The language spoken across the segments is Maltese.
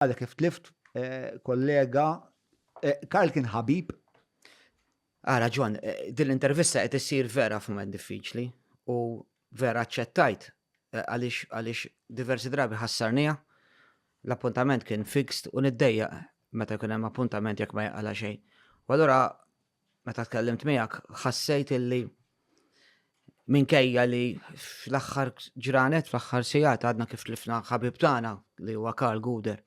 għadha kif tlift kollega, Karl kien ħabib. Ara ġon, din l-intervista qed issir vera f'mument diffiċli u vera ċċettajt għaliex għaliex diversi drabi ħassarnija l-appuntament kien fixed u niddejja meta kien hemm appuntament jekk ma jaqala xejn. U allura meta tkellimt miegħek ħassejt illi minkejja li fl-aħħar ġranet, fl-aħħar sigħat għadna kif tlifna ħabib tagħna li huwa Karl Guder.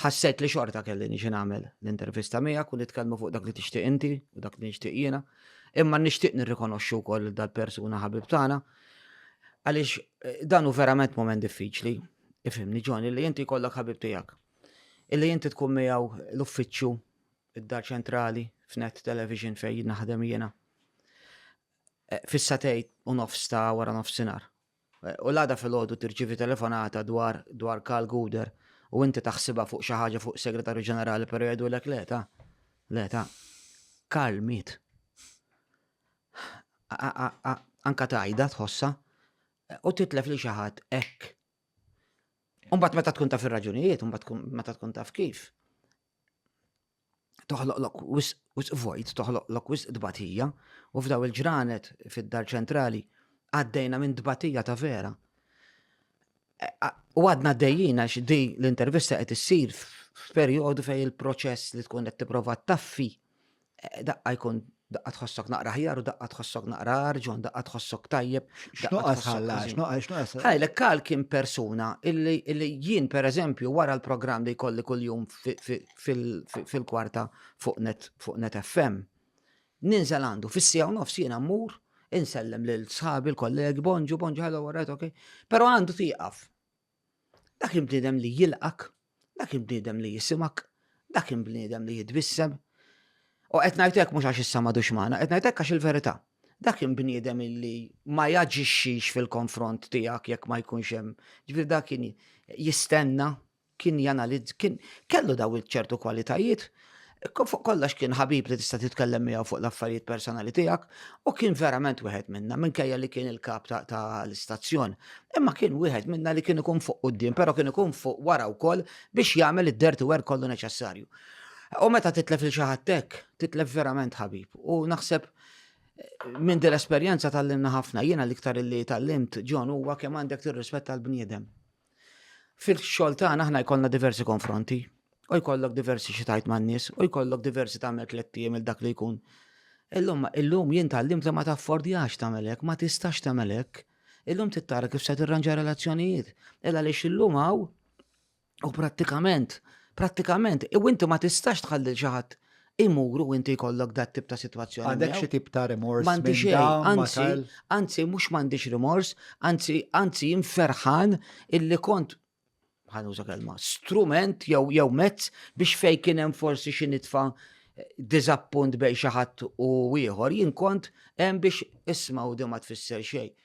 Ħassejt li xorta kelli niġi nagħmel l-intervista miegħek u nitkellmu fuq dak li tixtieq inti u dak li nixtieq jiena, imma nixtieq nirrikonoxxu wkoll dal-persuna ħabib tagħna għaliex eh, dan hu verament moment diffiċli, ifimni ġoni li inti kollok ħabib tiegħek. Illi inti tkun miegħu l-uffiċċju id-Dar Ċentrali f'Net Television fejn naħdem jiena. Eh, Fissatejt u nofs ta' wara nofsinhar. Eh, u l-għada fil-ħodu tirċivi telefonata dwar dwar Karl Guder u inti taħsiba fuq xi ħaġa fuq Segretarju Ġenerali per jgħidu lek le ta' le ta' Karl miet. Anka tajda tħossa eh, u titlef li xi ħadd hekk. Umbat meta tkun taf ir-raġunijiet, umbat meta tkun taf kif. toħloqlok wisq vojt, toħloqlok wisq dbatija, u f'daw il-ġranet fid-dar ċentrali għaddejna minn dbatija ta' vera. E, u għadna għaddejjina għax di l-intervista qed issir f'perjodu fej il-proċess li tkun qed tipprova taffi Daqqa jkun daqqa tħossok naqra ħjar u daqqa tħossok naqra arġun, daqqa tħossok tajjeb. X'nuqqas ħalla, x'nuqqas. Ħajlek kal kien persuna illi jien per eżempju wara l-programm li jkolli kuljum fil-kwarta fuq net fuq net FM. Ninżel għandu fis-sija u nofs jiena mmur insellem lil sħabi l-kollegi bonġu bonġu ħallu warajt ok. Però għandu tieqaf. Dak il-bniedem li jilqak, dak il-bniedem li jisimak, dak il-bniedem li jitbissem. U qed ngħidlek mhux għax issa madux magħna, qed ngħidlek għax il-verità. Dak il-bniedem li ma jaġixxix fil-konfront tiegħek jekk ma jkunx hemm. Ġifier dak kien jistenna, kien janalizz, kien kellu daw il-ċertu kwalitajiet Fuq kollox kien ħabib li tista' titkellem miegħu fuq l-affarijiet personali tiegħek u kien verament wieħed minna minkejja li kien il-kap ta' l-istazzjon. Imma kien wieħed minna li kien ikun fuq quddiem, però kien ikun fuq wara wkoll biex jagħmel id-dirty work kollu neċessarju. U meta titlef il xi ħadd hekk, titlef verament ħabib. U naħseb minn din l-esperjenza tal-limna ħafna, jiena l-iktar li tal-limt ġon huwa kemm għandek tirrispetta l-bniedem. Fil-xogħol tagħna aħna jkollna diversi konfronti, u jkollok diversi xi tajt man-nies, u jkollok diversi tagħmel tletti il dak li jkun. Illum illum jien tallim li ma taffordjax tagħmel hekk, ma tistax tagħmel hekk. Illum tittara kif se tirranġa relazzjonijiet. Illa li illum hawn u prattikament, prattikament, u inti ma tistax tħalli xi ħadd imuru u inti jkollok dat tip ta' situazzjoni. Għandek xi tip ta' rimors? Mandi xej, anzi, anzi, mux mandiġ rimors, anzi, anzi, inferħan illi kont ħanuża kelma, strument jew jew mezz biex fej kien hemm forsi xi nitfa' diżappunt bej xi ħadd u ieħor, jien kont hemm biex isma' u ma tfisser xejn.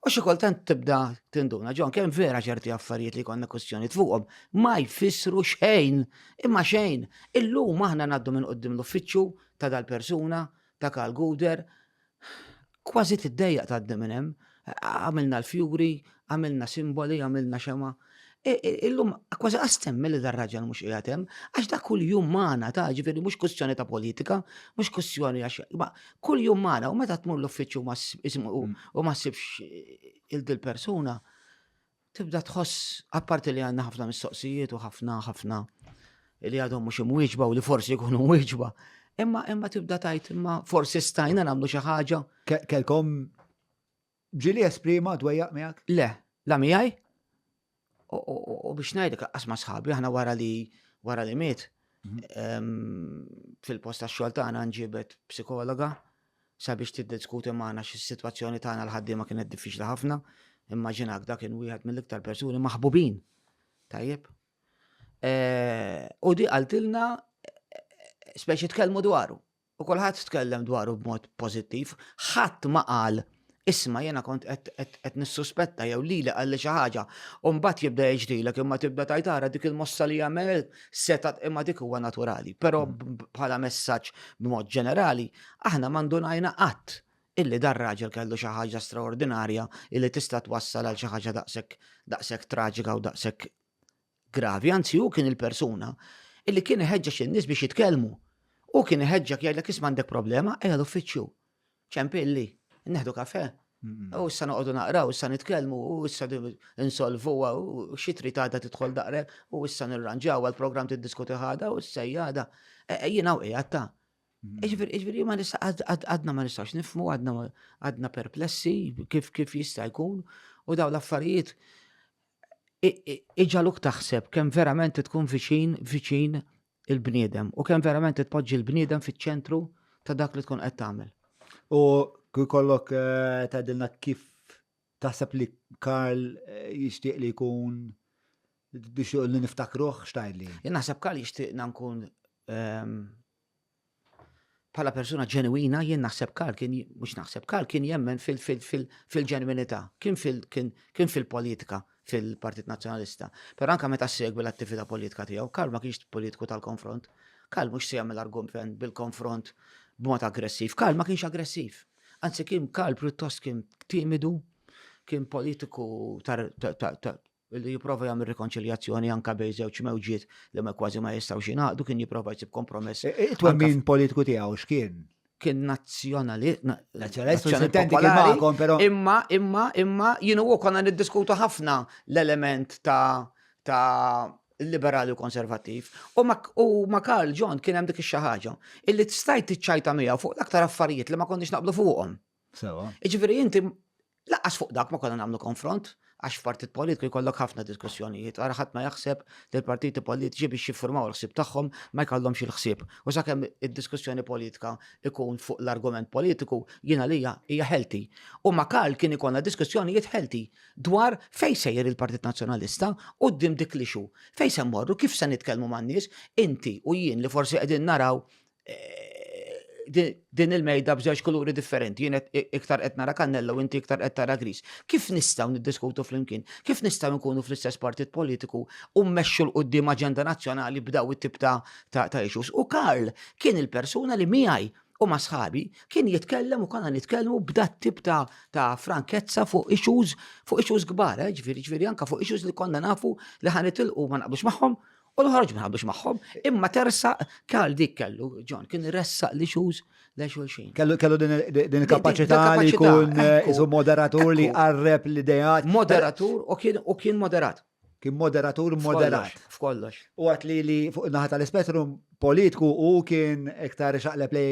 U xi kultant tibda tinduna, ġon, kemm vera ċerti affarijiet li konna kwestjoni fuqhom ma jfissru xejn, imma xejn. Illum aħna ngħaddu minn qudiem l-uffiċċju ta' dal-persuna, ta' Karl Guder, kważi tiddejjaq tgħaddi minn hemm, għamilna l-fjuri, għamilna simboli, għamilna xema, E, e, illum, kważi għastem mill dar raġel mux jgħatem, għax da kull jum maħna ta' ġifiri mux kustjoni ta' politika, mux kustjoni għax, ma kull jum maħna, u meta tmur l-uffiċu u mm. ma sibx il-dil persuna, tibda tħoss, apparti li għanna ħafna mistoqsijiet u ħafna ħafna li għadhom mux imwieġba u li forsi jkunu mwieġba, imma imma tibda tajt imma forsi stajna namlu xi ħaġa. Kelkom Ġili esprima dwejjaq miegħek? Le, la miegħi. U biex ngħidlek laqqas ma' sħabi, aħna wara li wara li miet fil-post tax-xogħol tagħna nġibet psikologa sabiex tiddiskuti magħna x'is-sitwazzjoni tagħna l-ħaddiema kienet diffiċli ħafna. Immaġinak dak kien wieħed mill-iktar persuni maħbubin. Tajjeb. Eh, u di qaltilna eh, speċi tkellmu dwaru. U kulħadd tkellem dwaru b'mod pożittiv, ħadd ma qal Isma' jiena kont qed nissuspetta jew lili qalli xi ħaġa. U mbagħad jibda jiġrilek imma tibda tgħid ara dik il-mossa li għamel seta' imma dik huwa naturali. Però mm. bħala messaġġ b'mod ġenerali, aħna ma ndunajna qatt illi dar raġel kellu xi ħaġa straordinarja illi tista' twassal għal xi ħaġa daqshekk daqshekk traġika u daqshekk gravi, anzi hu kien il-persuna illi kien iħeġġeġ in-nies biex jitkellmu. U kien iħeġġek jgħidlek isma' għandek problema, ejja l-uffiċċju. Ċempilli, neħdu kafe. Mm. U issa noqogħdu naqraw, issa nitkellmu, u issa insolvu, u xi trid għadha tidħol daqrek, u issa nirranġaw għall-programm tiddiskuti ħada, u issa jgħada. E, e, jiena u qiegħed ta' mm. Iġveri, iġveri, ma nista, għadna ma nistax nifmu, għadna perplessi, kif kif jista' jkun, u daw l-affarijiet iġaluk taħseb kemm verament tkun viċin viċin il-bniedem u kemm verament tpoġġi l-bniedem fiċ-ċentru ta' dak li tkun qed tagħmel. U kull kollok eh, tgħidilna kif taħseb li Karl eh, jixtieq li jkun biex li niftakruh x'tajli. Jien naħseb Karl jixtieqna nkun ehm, Bħala persuna ġenwina jien naħseb Karl kien mhux naħseb Karl kien jemmen fil-ġenwinità, kien fil-politika fil-Partit Nazzjonalista. Però anke meta segwi l-attività politika tiegħu, Karl ma kienx politiku tal-konfront. Karl mhux se jagħmel argument bil-konfront b'mod aggressiv. Karl ma kienx aggressiv. Anzi kien Karl pjuttost kien timidu, kien politiku Billi jipprova jagħmel rikonċiljazzjoni anke bejn żewġ mewġiet li ma kważi ma jistgħux jingħaqdu kien jipprova jsib kompromess. E, e, Twemmin politiku tiegħu x'kien? Kien nazzjonali. Imma, imma, imma, jienu u konna niddiskutu ħafna l-element ta' ta' liberali u konservativ. U ma Karl John kien hemm dik ix-xi ħaġa illi stajt tiċċajta miegħu fuq l-aktar affarijiet li ma konniex naqblu fuqhom. Sewa. Jiġifieri inti laqas fuq dak ma konna nagħmlu konfront għax f'partit politiku jkollok ħafna diskussjonijiet, ara ħadd ma jaħseb li l-partiti politiċi biex jiffurmaw l-ħsieb tagħhom ma jkollhomx il-ħsieb. U sakemm id-diskussjoni politika ikun fuq l-argument politiku, jien għalija hija ħelti. U ma' Karl kien ikollna diskussjonijiet ħelti dwar fejn sejjer il-Partit Nazzjonalista u dim dik l-ixu. Fejn se mmorru, kif se nitkellmu man-nies, inti u jien li forsi qegħdin naraw eh, din il-mejda b'żewġ kuluri differenti, jien iktar qed nara kannella u inti iktar qed tara gris. Kif nistgħu niddiskutu flimkien? Kif nistgħu nkunu fl-istess partit politiku u mmexxu l qudiem aġenda nazzjonali b'daw it-tip ta' ta' issues? U Karl kien il-persuna li miegħi u ma' sħabi kien jitkellem u konna nitkellmu b'dat tip ta', ta frankezza fuq issues fuq issues kbar, eh, ġifieri ġifieri anka fuq issues li konna nafu li ħanitilqu ma naqbux magħhom U l-ħarġ ma naqblux magħhom, imma tersa kal dik kellu, John, kien ressaq li xuz le xulxin. Kellu kellu din il-kapaċità li jkun eh, isu moderatur li qarreb l-idejat. Moderatur u kien u kien moderat. Kien moderatur moderat. F'kollox. U għat li li fuq naħa tal-spettrum politiku u kien iktar xaqleb li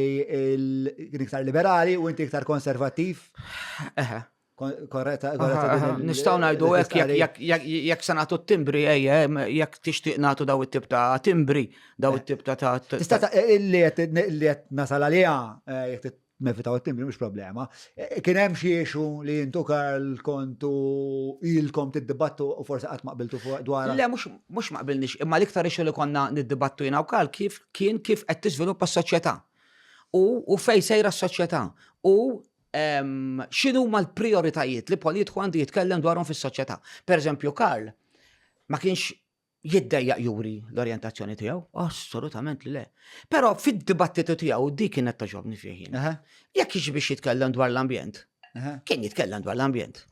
kien iktar liberali u inti iktar konservattiv. Eħe. Korretta, korretta. Nistaw najdu hekk jekk se nagħtu t-timbri ejja, jekk tixtieq nagħtu daw it-tip ta' timbri, daw it-tip ta' ta' Tista' ta' li qed nasal għaliha eh, jekk nevitaw t-timbri mhux problema. Eh, kien hemm xi issue li intu Karl kontu ilkom tiddibattu u forsi qatt ma qbiltu fuq dwar. Le mhux ma qbilniex, imma l-iktar issue li konna niddibattu jiena u Karl kif kien kif qed tiżviluppa s-soċjetà. U fejn sejra s-soċjetà. U x'inhuma l-prijoritajiet li politiku għandu jitkellem dwarhom fis-soċjetà. Per eżempju, Karl ma kienx jiddejjaq juri l-orientazzjoni tiegħu? Assolutament li le. Però fid-dibattitu tiegħu dik kienet toġobni fih. Jekk jiġi biex jitkellem dwar l-ambjent, kien jitkellem dwar l-ambjent.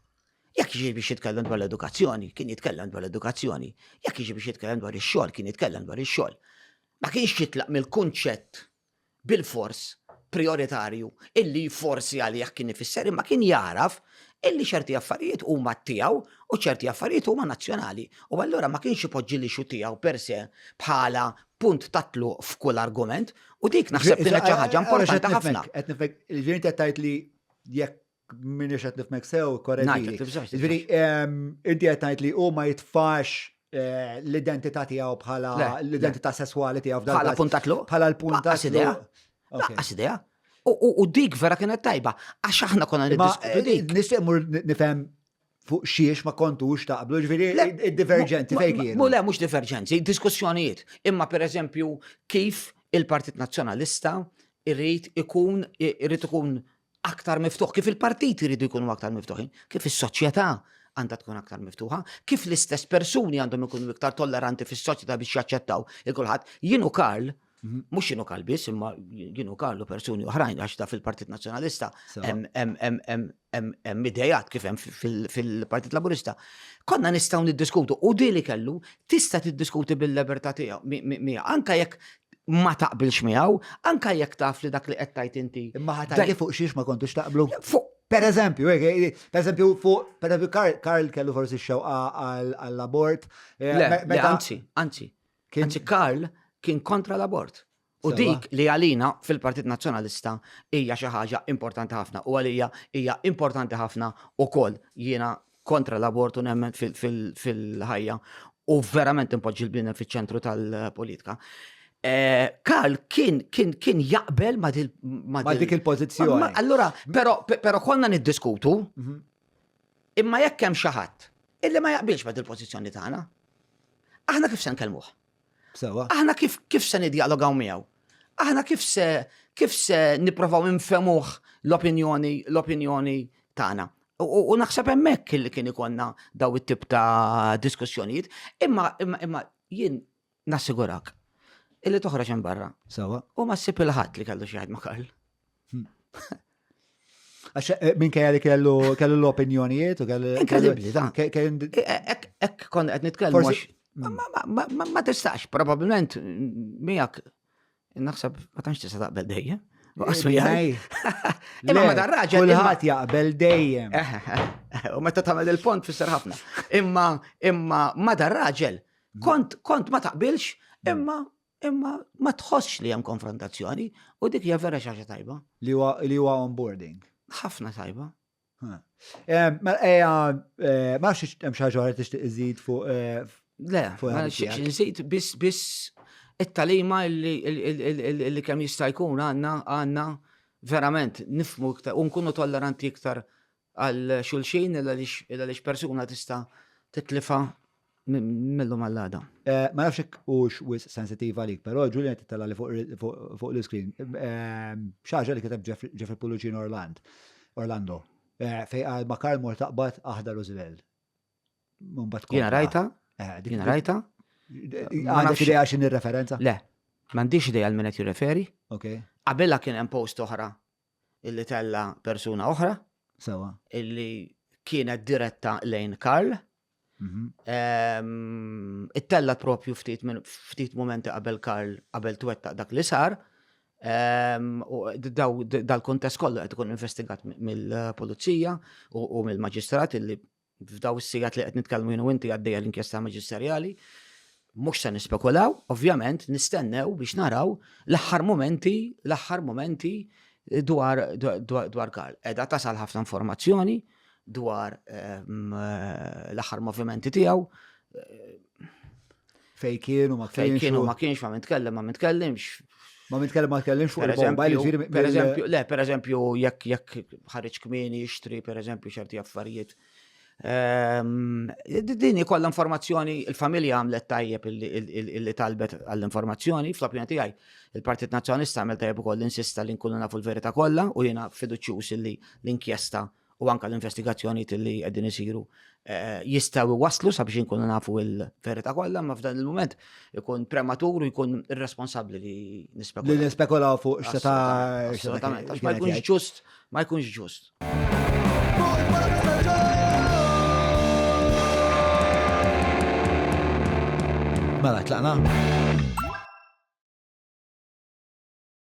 Jekk jiġi biex jitkellem dwar l-edukazzjoni, kien jitkellem dwar l-edukazzjoni. Jekk jiġi biex jitkellem dwar ix-xogħol, kien jitkellem dwar ix-xogħol. Ma kienx jitlaq mill-kunċett bilfors prijoritarju illi forsi għalih kien ifisser imma kien jagħraf illi ċerti affarijiet huma tiegħu u ċerti affarijiet huma nazzjonali. U allura ma kienx ipoġġi li xu tiegħu per se bħala punt tatlu f'kull argument u dik naħseb li xi ħaġa importanti ħafna. Qed nifek, il-ġirin qed tgħid li jekk Minni xed nifmek sew, korreġi. Ġviri, inti għet najt li u ma jitfax eh, l-identità tijaw bħala l-identità sessuali tijaw f'dan. Bħala puntatlu? Bħala l-puntatlu. Għas idea. Għas idea. U dik vera kienet tajba, għax aħna konna niddiskutu eh, dik. Nistgħu nifhem fuq xiex ma kontux taqblu, ġviri, id-divergenzi fejn kienu. Mule, mux divergenzi, diskussjonijiet. Imma per eżempju, kif il-Partit Nazzjonalista irrit ikun, irrit ikun aktar miftuħ, kif il-partit irridu jkunu aktar miftuħin, kif is-soċjetà għandha tkun aktar miftuħa, kif l-istess persuni għandhom ikunu iktar tolleranti fis-soċjetà biex jaċċettaw il-kulħadd. Jienu Karl, mhm. mhux jienu Karl biss, imma jienu Karl u persuni oħrajn għax ta' fil-Partit Nazzjonalista hemm idejat kif hemm fil-Partit Laburista, konna nistgħu niddiskutu u di li kellu tista' tiddiskuti bil-libertà tiegħu miegħu anke jekk ma taqbilx miegħu, anke jekk taf li dak li qed tgħid inti. Imma ħatajli fuq xiex ma kontux taqblu. Fuq Per eżempju, eh, eh, eh, per eżempju, fuq, per eżempju, Karl kellu forsi xewqa għall-abort. Anzi, anzi. Anzi, Karl kien kontra l-abort. U dik li għalina fil-Partit Nazzjonalista hija xi ħaġa importanti ħafna u għalija hija importanti ħafna ukoll jiena kontra l-abortu nemmen fil-ħajja u verament impoġġi l-bniedem fiċ-ċentru tal-politika. Eh, Karl kien kien kien jaqbel ma dik il-pożizzjoni. Allura, però però konna niddiskutu mhm. imma jekk hemm xi ħadd illi ma jaqbilx ma dil-pożizzjoni tagħna. Aħna kif se nkellmuh? Sewa. Aħna kif kif se nidjalogaw miegħu? Aħna kif se kif se nipprovaw infemuh l-opinjoni l-opinjoni tagħna? U naħseb hemmhekk li kien ikonna daw it-tip ta' diskussjonijiet, imma imma jien nassigurak illi toħroġ hemm barra. Sewa. U ma ssib il-ħadd li kellu xi ma Karl. Għax eh, minn kajja li kellu l-opinjonijiet u kellu. Inkredibli, dan. Eh, eh, ek kon għed nitkellmu. Mm. Ma tistax, probabilment, miegħek naħseb ma tantx tista' taqbel dejjem. Għasmi għaj. Imma ma dar raġel. Kulħat jaqbel dejjem. U meta tagħmel il-pont fisser ħafna. Imma imma ma dar raġel. Kont kont ma taqbilx mm. imma Imma ma tħossx li hemm konfrontazzjoni u dik hija vera xaġa tajba. Li huwa li huwa onboarding. Ħafna tajba. Ma eja, ma nafx hemm xi ħaġa li tixtieq iżid fuq. Le, ma nixtieqx iżid biss biss it-talima li kemm jista' jkun għandna għandna verament nifmu iktar u nkunu tolleranti iktar għal xulxin il għaliex persuna tista' titlifha mill-lum għall-għada. Ma nafx hekk hux wisq sensittiv għalik, però Julian qed jitellgħali fuq l-iscreen. Xi ħaġa li kiteb Jeffrey Pullucino Orland, Orlando, fejn qal ma Karl mor taqbad aħdar u żbel. Jiena rajta? Jiena rajta? Għandek idea x'in ir-referenza? Le, m'għandix idea għal min qed jirreferi. Qabelha kien hemm post oħra illi tella persuna oħra. Sewa. Illi kienet diretta lejn Karl. Mhm. Ehm, It-tella propju ftit minn ftit momenti qabel Karl qabel twettaq dak li sar. Ehm, u daw- Dal-kontest kollu qed ikun investigat mill-pulizija u u mill-maġistrat illi F'dawn is-sigħat li qed nitkellmu jien u inti għaddejja l-inkjesta maġisterjali. Mhux se nispekulaw, ovvjament, nistennew biex naraw l-aħħar mumenti, l-aħħar mumenti eh, dwar, dwar Karl. Edha tasal ħafna informazzjoni dwar ehm, eh, l-aħħar movimenti tiegħu. Eh, Fej kienu ma kienx. Fej kienu ma kienx, ma mitkellem, ma mitkellimx. Ma mitkellem ma tkellimx fuq il-bomba, ġifieri. Per eżempju, le, per eżempju, jekk jekk ħareġ kmieni jixtri, per eżempju, ċerti affarijiet. Ehm, Dini kollha informazzjoni, il-familja għamlet tajjeb illi talbet għall-informazzjoni, fl-opinjoni tiegħi, il-Partit Nazzjonalista għamel tajjeb ukoll insista li nkunu nafu l-verità kollha u jiena fiduċjuż illi l-inkjesta u anke l-investigazzjonijiet li qegħdin isiru jistgħu waslu sabiex inkunu nafu l-verità kollha, ma f'dan il-mument ikun prematur u jkun irresponsabbli li nispekulaw. Li nispekulaw fuq x'ta' assolutament. Għax ma jkunx ġust, ma jkunx ġust. Mela, tlaqna?